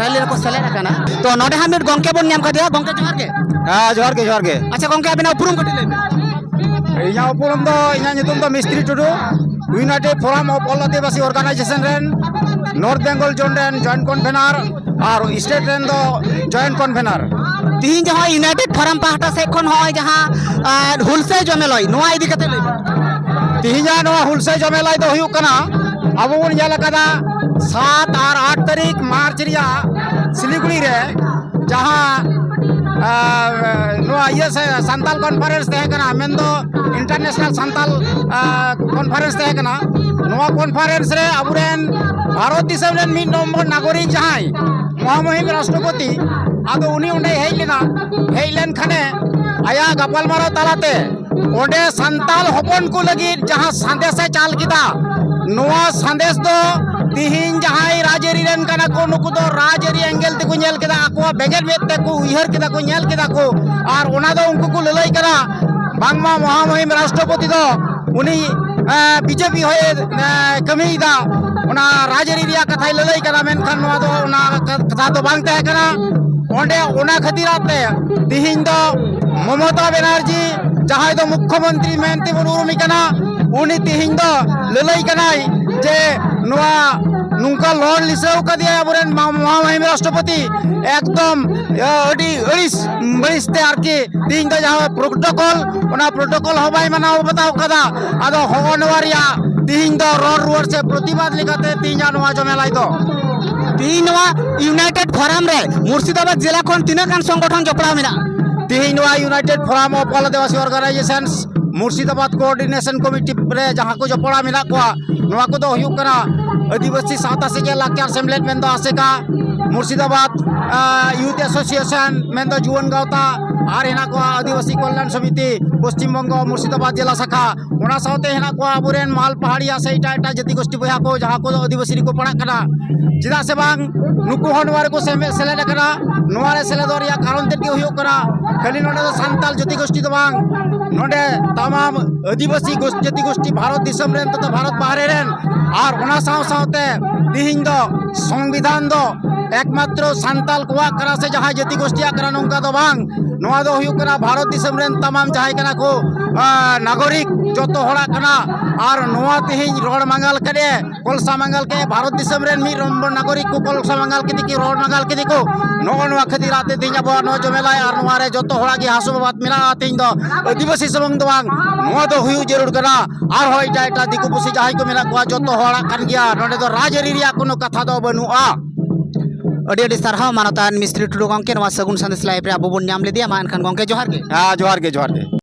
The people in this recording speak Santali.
ᱨᱮᱞᱤ ᱨᱮᱠᱚ ᱥᱮᱞᱮᱫ ᱟᱠᱟᱱᱟ ᱛᱚ ᱱᱚᱰᱮ ᱦᱟᱸᱜ ᱢᱤᱫ ᱜᱚᱝᱠᱮ ᱵᱚᱱ ᱧᱟᱢ ᱠᱟᱫᱮᱭᱟ ᱜᱚᱝᱠᱮ ᱡᱚᱦᱟᱨ ᱜᱮ ᱦᱮᱸ ᱡᱚᱦᱟᱨ ᱜᱮ ᱡᱚᱦᱟᱨ ᱜᱮ ᱟᱪᱪᱷᱟ ᱜᱚᱝᱠᱮ ᱟᱵᱤᱱᱟᱜ ᱩᱯᱨᱩᱢ ᱠᱟᱹᱴᱤᱡ ᱞᱟᱹᱭ ᱵᱤᱱ ᱤᱧᱟᱹᱜ ᱩᱯᱨᱩᱢ ᱫᱚ ᱤᱧᱟᱹᱜ ᱧᱩᱛᱩᱢ ᱫᱚ Mistri Tudu united forum of all Adivasi organisation ᱨᱮᱱ ᱱᱚᱨᱛᱷ ᱵᱮᱝᱜᱚᱞ ᱡᱳᱱ ᱨᱮᱱ ᱡᱚᱭᱮᱱᱴ ᱠᱚᱱᱵᱷᱮᱱᱟᱨ ᱟᱨ ᱥᱴᱮᱴ ᱨᱮᱱ ᱫᱚ ᱡᱚᱭᱮᱱᱴ ᱠᱚᱱᱵᱷᱮᱱᱟᱨ ᱛᱤᱦᱤᱧ ᱡᱟᱦᱟᱸ ᱤᱭᱩᱱᱟᱭᱴᱮᱰ ᱯᱷᱳᱨᱟᱢ ᱯᱟᱦᱴᱟ ᱥᱮᱫ ᱠᱷᱚᱱ ᱱᱚᱜᱼᱚᱭ ᱡᱟᱦᱟᱸ ᱦᱩᱞᱥᱟᱹᱭ ᱡᱚᱢᱮᱞᱟᱭ ᱱᱚᱣᱟ ᱤᱫᱤ ᱠᱟᱛᱮ ᱞᱟᱹᱭ ᱵᱤᱱ ᱛᱤᱦᱤᱧᱟᱜ ᱱᱚᱣᱟ ᱦᱩᱞᱥᱟᱹᱭ ᱡᱚᱢᱮᱞᱟᱭ ᱫᱚ ᱦᱩᱭᱩᱜ ᱠᱟᱱᱟ ᱟᱵᱚ ᱵᱚᱱ ᱧᱮᱞ ᱟᱠᱟᱫᱟ ᱥᱟᱛ ᱟᱨ ᱟᱴ ᱛᱟᱹᱨᱤᱠᱷ ᱢᱟᱨᱪ ᱨᱮᱭᱟᱜ ᱥᱤᱞᱤᱜᱩᱲᱤ ᱨᱮ ᱡᱟᱦᱟᱸ ᱱᱚᱣᱟ ᱤᱭᱟᱹ ᱥᱟᱱᱛᱟᱞ ᱠᱚᱱᱯᱷᱟᱨᱮᱱᱥ ᱛᱟᱦᱮᱸ ᱠᱟᱱᱟ ᱢᱮᱱᱫᱚ ᱤᱱᱴᱟᱨᱱᱮᱥᱱᱟᱞ ᱥᱟᱱᱛᱟᱞ ᱠᱚᱱᱯᱷᱟᱨᱮᱱᱥ ᱛᱟᱦᱮᱸ ᱠᱟᱱᱟ ᱱᱚᱣᱟ ᱠᱚᱱᱯᱷᱟᱨᱮᱱᱥ ᱨᱮ ᱟᱵᱚᱨᱮᱱ ᱵᱷᱟᱨᱚᱛ ᱫᱤᱥᱚᱢ ᱨᱮᱱ ᱢᱤᱫ ᱱᱚᱢᱵᱚᱨ ᱱᱟᱜᱚᱨᱤᱠ ᱡᱟᱦᱟᱸᱭ ᱢᱚᱦᱟᱢᱚᱦᱤᱢ ᱨᱟᱥᱴᱨᱚᱯᱚᱛᱤ ᱟᱫᱚ ᱩᱱᱤ ᱚᱸᱰᱮᱭ ᱦᱮᱡ ᱞᱮᱱᱟ ᱦᱮᱡ ᱞᱮᱱᱠᱷᱟᱱᱮ ᱟᱭᱟᱜ ᱜᱟᱯᱟᱞᱢᱟᱨᱟᱣ ᱛᱟᱞᱟᱛᱮ ᱚᱸᱰᱮ ᱥᱟᱱᱛᱟᱞ ᱦᱚᱯᱚᱱ ᱠᱚ ᱞᱟᱹᱜᱤᱫ ᱡᱟᱦᱟᱸ ᱥᱟᱸᱫᱮᱥ ᱮ ᱪᱟᱞ ᱠᱮᱫᱟ ᱱᱚᱣᱟ ᱥᱟᱸᱫᱮᱥ ᱫᱚ ᱛᱤᱦᱤᱧ ᱡᱟᱦᱟᱸᱭ ᱨᱟᱡᱽᱟᱹᱨᱤ ᱨᱮᱱ ᱠᱟᱱᱟ ᱠᱚ ᱱᱩᱠᱩ ᱫᱚ ᱨᱟᱡᱽᱟᱹᱨᱤ ᱮᱸᱜᱮᱞ ᱛᱮᱠᱚ ᱧᱮᱞ ᱠᱮᱫᱟ ᱟᱠᱚᱣᱟᱜ ᱵᱮᱸᱜᱮᱫ ᱢᱮᱫ ᱛᱮᱠᱚ ᱩᱭᱦᱟᱹᱨ ᱠᱮᱫᱟ ᱠᱚ ᱧᱮᱞ ᱠᱮᱫᱟ ᱠᱚ ᱟᱨ ᱚᱱᱟ ᱫᱚ ᱩᱱᱠᱩ ᱠᱚ ᱞᱟᱹᱞᱟᱹᱭ ᱠᱟᱱᱟ ᱵᱟᱝᱢᱟ ᱢᱚᱦᱟᱢᱚᱦᱤᱢ ᱨᱟᱥᱴᱨᱚᱯᱚᱛᱤ ᱫᱚ ᱩᱱᱤ ᱵᱤᱡᱮᱯᱤ ᱦᱚᱭᱮ ᱠᱟᱹᱢᱤᱭᱮᱫᱟ ᱚᱱᱟ ᱨᱟᱡᱽᱟᱹᱨᱤ ᱨᱮᱭᱟᱜ ᱠᱟᱛᱷᱟᱭ ᱞᱟᱹᱞᱟᱹᱭ ᱠᱟᱱᱟ ᱢᱮᱱᱠᱷᱟᱱ ᱱᱚᱣᱟ ᱫᱚ ᱚᱱᱟ ᱠᱟᱛᱷᱟ ᱫᱚ ᱵᱟᱝ ᱛᱟᱦᱮᱸ ᱠᱟᱱᱟ ᱚᱸᱰᱮ ᱚᱱᱟ ᱠᱷᱟᱹᱛᱤᱨᱟᱜ ᱛᱮ ᱛᱤᱦᱤᱧ ᱫᱚ ᱢᱚᱢᱚᱛᱟ ᱵᱮᱱᱟᱨᱡᱤ ᱡᱟᱦᱟᱸᱭ ᱫᱚ ᱢᱩᱠᱷᱚᱢᱚᱱᱛᱨᱤ ᱢᱮᱱᱛᱮ ᱵᱚᱱ ᱩᱨᱩᱢᱮ ᱠᱟᱱᱟ ᱩᱱᱤ ᱛᱮᱦᱮᱧ ᱫᱚ ᱞᱟᱹᱞᱟᱹᱭ ᱠᱟᱱᱟᱭ ᱡᱮ ᱱᱚᱣᱟ ᱱᱚᱝᱠᱟ ᱞᱚᱲ ᱞᱤᱥᱟᱹᱣ ᱠᱟᱫᱮᱭᱟ ᱟᱵᱚᱨᱮᱱ ᱢᱚᱦᱟᱢᱚᱦᱤᱢ ᱨᱟᱥᱴᱨᱚᱯᱚᱛᱤ ᱮᱠᱫᱚᱢ ᱟᱹᱰᱤ ᱟᱹᱲᱤᱥ ᱵᱟᱹᱲᱤᱥ ᱛᱮ ᱟᱨᱠᱤ ᱛᱮᱦᱮᱧ ᱫᱚ ᱡᱟᱦᱟᱸ ᱯᱨᱳᱴᱳᱠᱚᱞ ᱚᱱᱟ ᱯᱨᱳᱴᱳᱠᱚᱞ ᱦᱚᱸ ᱵᱟᱭ ᱢᱟᱱᱟᱣ ᱵᱟᱛᱟᱣ ᱠᱟᱫᱟ ᱟᱫᱚ ᱦᱚᱸᱜᱼᱚ ᱱᱚᱣᱟ ᱨᱮᱭᱟᱜ ᱛᱮᱦᱮᱧ ᱫᱚ ᱨᱚᱲ ᱨᱩᱣᱟᱹᱲ ᱥᱮ ᱯᱨᱚᱛᱤᱵᱟᱫ ᱞᱮᱠᱟᱛᱮ ᱛᱮᱦᱮᱧᱟᱜ ᱱᱚᱣᱟ ᱡᱚᱢᱮᱞᱟᱭ ᱫᱚ ᱛᱮᱦᱮᱧ ᱱᱚᱣᱟ ᱤᱭᱩᱱᱟᱭᱴᱮᱰ ᱯᱷᱚᱨᱟᱢ ᱨᱮ ᱢᱩᱨᱥᱤᱫᱟᱵᱟᱫ ᱡᱮᱞᱟ ᱠᱷᱚᱱ ᱛᱤᱱᱟᱹᱜ ᱜᱟᱱ ᱥᱚᱝᱜᱚᱴᱷᱚᱱ ᱡᱚᱯᱲᱟᱣ ᱢᱮᱱᱟᱜᱼᱟ ᱛᱮᱦᱮᱧ ᱱᱚᱣᱟ united forum of all Adivasi organisations Murshidabad coordination committee ᱨᱮ ᱡᱟᱦᱟᱸ ᱠᱚ ᱡᱚᱯᱲᱟᱣ ᱢᱮᱱᱟᱜ ᱠᱚᱣᱟ ᱱᱚᱣᱟ ᱠᱚᱫᱚ ᱦᱩᱭᱩᱜ ᱠᱟᱱᱟ ᱟᱹᱫᱤᱵᱟᱹᱥᱤ ᱥᱟᱶᱛᱟ ᱥᱮᱪᱮᱫ ᱞᱟᱠᱪᱟᱨ ᱥᱮᱢᱞᱮᱫ ᱢᱮᱱᱫᱚ ᱟᱥᱮᱠᱟ ᱢᱩᱨᱥᱤᱫᱟᱵᱟᱫᱽ ᱭᱩᱛᱷ ᱮᱥᱳᱥᱤᱭᱮᱥᱚᱱ ᱢᱮᱱᱫᱚ ᱡᱩᱣᱟᱹᱱ ᱜᱟᱶᱛᱟ ᱟᱨ ᱦᱮᱱᱟᱜ ᱠᱚᱣᱟ ᱟᱹᱫᱤᱵᱟᱹᱥᱤ ᱠᱚᱞᱭᱟᱱ ᱥᱚᱢᱤᱛᱤ ᱯᱚᱥᱪᱤᱢ ᱵᱚᱝᱜᱚ ᱢᱩᱨᱥᱤᱫᱟᱵᱟᱫᱽ ᱡᱮᱞᱟ ᱥᱟᱠᱷᱟ ᱚᱱᱟ ᱥᱟᱶᱛᱮ ᱦᱮᱱᱟᱜ ᱠᱚᱣᱟ ᱟᱵᱚᱨᱮᱱ ᱢᱟᱞ ᱯᱟᱦᱟᱲᱤᱭᱟ ᱥᱮ ᱮᱴᱟᱜ ᱮᱴᱟᱜ ᱡᱟᱹᱛᱤ ᱜᱳᱥᱴᱤ ᱵᱚᱭᱦᱟ ᱠᱚ ᱡᱟᱦᱟᱸ ᱠᱚᱫᱚ ᱟᱹᱫᱤᱵᱟᱹᱥᱤ ᱨᱮᱠᱚ ᱯᱟᱲᱟᱜ ᱠᱟᱱᱟ ᱪᱮᱫᱟᱜ ᱥᱮ ᱵᱟᱝ ᱱᱩᱠᱩ ᱦᱚᱸ ᱱᱚᱣᱟ ᱨᱮᱠᱚ ᱥᱮᱢᱮᱫ ᱥᱮᱞᱮᱫ ᱟᱠᱟᱱᱟ ᱱᱚᱣᱟ ᱨᱮ ᱥᱮᱞᱮᱫᱚᱜ ᱨᱮᱭᱟᱜ ᱠᱟᱨᱚᱱ ᱛᱮᱫ ᱜᱮ ᱦᱩᱭᱩᱜ ᱠᱟᱱᱟ ᱠᱷᱟᱹᱞᱤ ᱱᱚᱰᱮ ᱫᱚ ᱥᱟᱱᱛᱟᱲ ᱡᱟᱹᱛᱤ ᱜᱳᱥᱴᱤ ᱫᱚ ᱵᱟᱝ ᱱᱚᱰᱮ ᱛᱟᱢᱟᱢ ᱟᱹᱫᱤᱵᱟᱹᱥᱤ ᱡᱟᱹᱛᱤ ᱜᱳᱥᱴᱤ ᱵᱷᱟᱨᱚᱛ ᱫᱤᱥᱚᱢ ᱨᱮᱱ ᱛᱚᱛᱷᱟ ᱵᱷᱟᱨᱚᱛ ᱵᱟᱦᱨᱮ ᱨᱮᱱ ᱟᱨ ᱚᱱᱟ ᱥᱟᱶ ᱥᱟᱶᱛᱮ ᱛᱤᱦᱤᱧ ᱫᱚ ᱥᱚᱝᱵᱤᱫᱷᱟᱱ ᱫᱚ ᱮᱠᱢᱟᱛᱨᱚ ᱥᱟᱱᱛᱟᱲ ᱠᱚᱣᱟᱜ ᱠᱟᱱᱟ ᱥᱮ ᱡᱟᱦᱟᱸᱭ ᱡᱟᱹᱛᱤ ᱜᱳᱥᱴᱤᱭᱟᱜ ᱠᱟᱱᱟ ᱱᱚᱝᱠᱟ ᱫᱚ ᱵᱟᱝ ᱱᱚᱣᱟ ᱫᱚ ᱦᱩᱭᱩᱜ ᱠᱟᱱᱟ ᱵᱷᱟᱨᱚᱛ ᱫᱤᱥᱚᱢ ᱨᱮᱱ ᱛᱟᱢᱟᱢ ᱡᱟᱦᱟᱸᱭ ᱠᱟᱱᱟ ᱠᱚ ᱱᱟᱜᱚᱨᱤᱠ ᱡᱚᱛᱚ ᱦᱚᱲᱟᱜ ᱠᱟᱱᱟ ᱟᱨ ᱱᱚᱣᱟ ᱛᱮᱦᱮᱧ ᱨᱚᱲ ᱢᱟᱸᱜᱟᱞ ᱠᱮᱫᱮ ᱠᱚᱞᱥᱟ ᱢᱟᱸᱜᱟᱞ ᱠᱮᱫᱮ ᱵᱷᱟᱨᱚᱛ ᱫᱤᱥᱚᱢ ᱨᱮᱱ ᱢᱤᱫ ᱱᱟᱜᱚᱨᱤᱠ ᱠᱚ ᱠᱚᱞᱥᱟ ᱢᱟᱸᱜᱟᱞ ᱠᱮᱫᱮ ᱠᱚ ᱨᱚᱲ ᱢᱟᱸᱜᱟᱞ ᱠᱮᱫᱮ ᱠᱚ ᱱᱚᱜᱼᱚ ᱱᱚᱣᱟ ᱠᱷᱟᱹᱛᱤᱨ ᱟᱛᱮ ᱛᱮᱦᱮᱧ ᱟᱵᱚᱣᱟᱜ ᱱᱚᱣᱟ ᱡᱚᱢᱮᱞᱟᱭ ᱟᱨ ᱱᱚᱣᱟ ᱨᱮ ᱡᱚᱛᱚ ᱦᱚᱲᱟᱜ ᱜᱮ ᱦᱟᱥᱩ ᱵᱟᱵᱟᱫ ᱢᱮᱱᱟᱜᱼᱟ ᱛᱮᱦᱮᱧ ᱫᱚ ᱟᱹᱫᱤᱵᱟᱹᱥᱤ ᱥᱩᱢᱩᱝ ᱫᱚ ᱵᱟᱝ ᱱᱚᱣᱟ ᱫᱚ ᱦᱩᱭᱩᱜ ᱡᱟᱹᱨᱩᱲ ᱠᱟᱱᱟ ᱟᱨᱦᱚᱸ ᱮᱴᱟᱜ ᱮᱴᱟᱜ ᱫᱤᱠᱩ ᱯᱩᱥᱤ ᱡᱟᱦᱟᱸᱭ ᱠᱚ ᱢᱮᱱᱟᱜ ᱠᱚᱣᱟ ᱡᱚᱛᱚ ᱦᱚᱲᱟᱜ ᱠᱟᱱ ᱜᱮᱭᱟ ᱱᱚᱰᱮ ᱫᱚ ᱨᱟᱡᱽ ᱟᱹᱨᱤ ᱨᱮᱭᱟᱜ ᱠᱳᱱᱳ ᱠᱟᱛᱷᱟ ᱫᱚ ᱵᱟᱹᱱᱩᱜᱼᱟ ᱟᱹᱰᱤ ᱟᱹᱰᱤ ᱥᱟᱨᱦᱟᱣ ᱢᱟᱱᱚᱛᱟᱱ ᱢᱤᱥᱛᱨᱤ ᱴᱩᱰᱩ ᱜᱚᱢᱠᱮ ᱱᱚᱣᱟ ᱥᱟᱹᱜᱩᱱ ᱥᱟᱸᱫᱮᱥ ᱞᱟᱭᱤᱵᱽ ᱨᱮ ᱟᱵᱚ ᱵᱚᱱ ᱧᱟᱢ ᱞᱮᱫᱮᱭᱟ ᱢᱟ ᱮᱱᱠᱷᱟᱱ ᱜᱚᱢᱠᱮ ᱡᱚᱦᱟᱨ ᱜᱮ ᱦᱮᱸ ᱡᱚᱦᱟᱨ ᱜᱮ ᱡᱚᱦᱟᱨ ᱜᱮ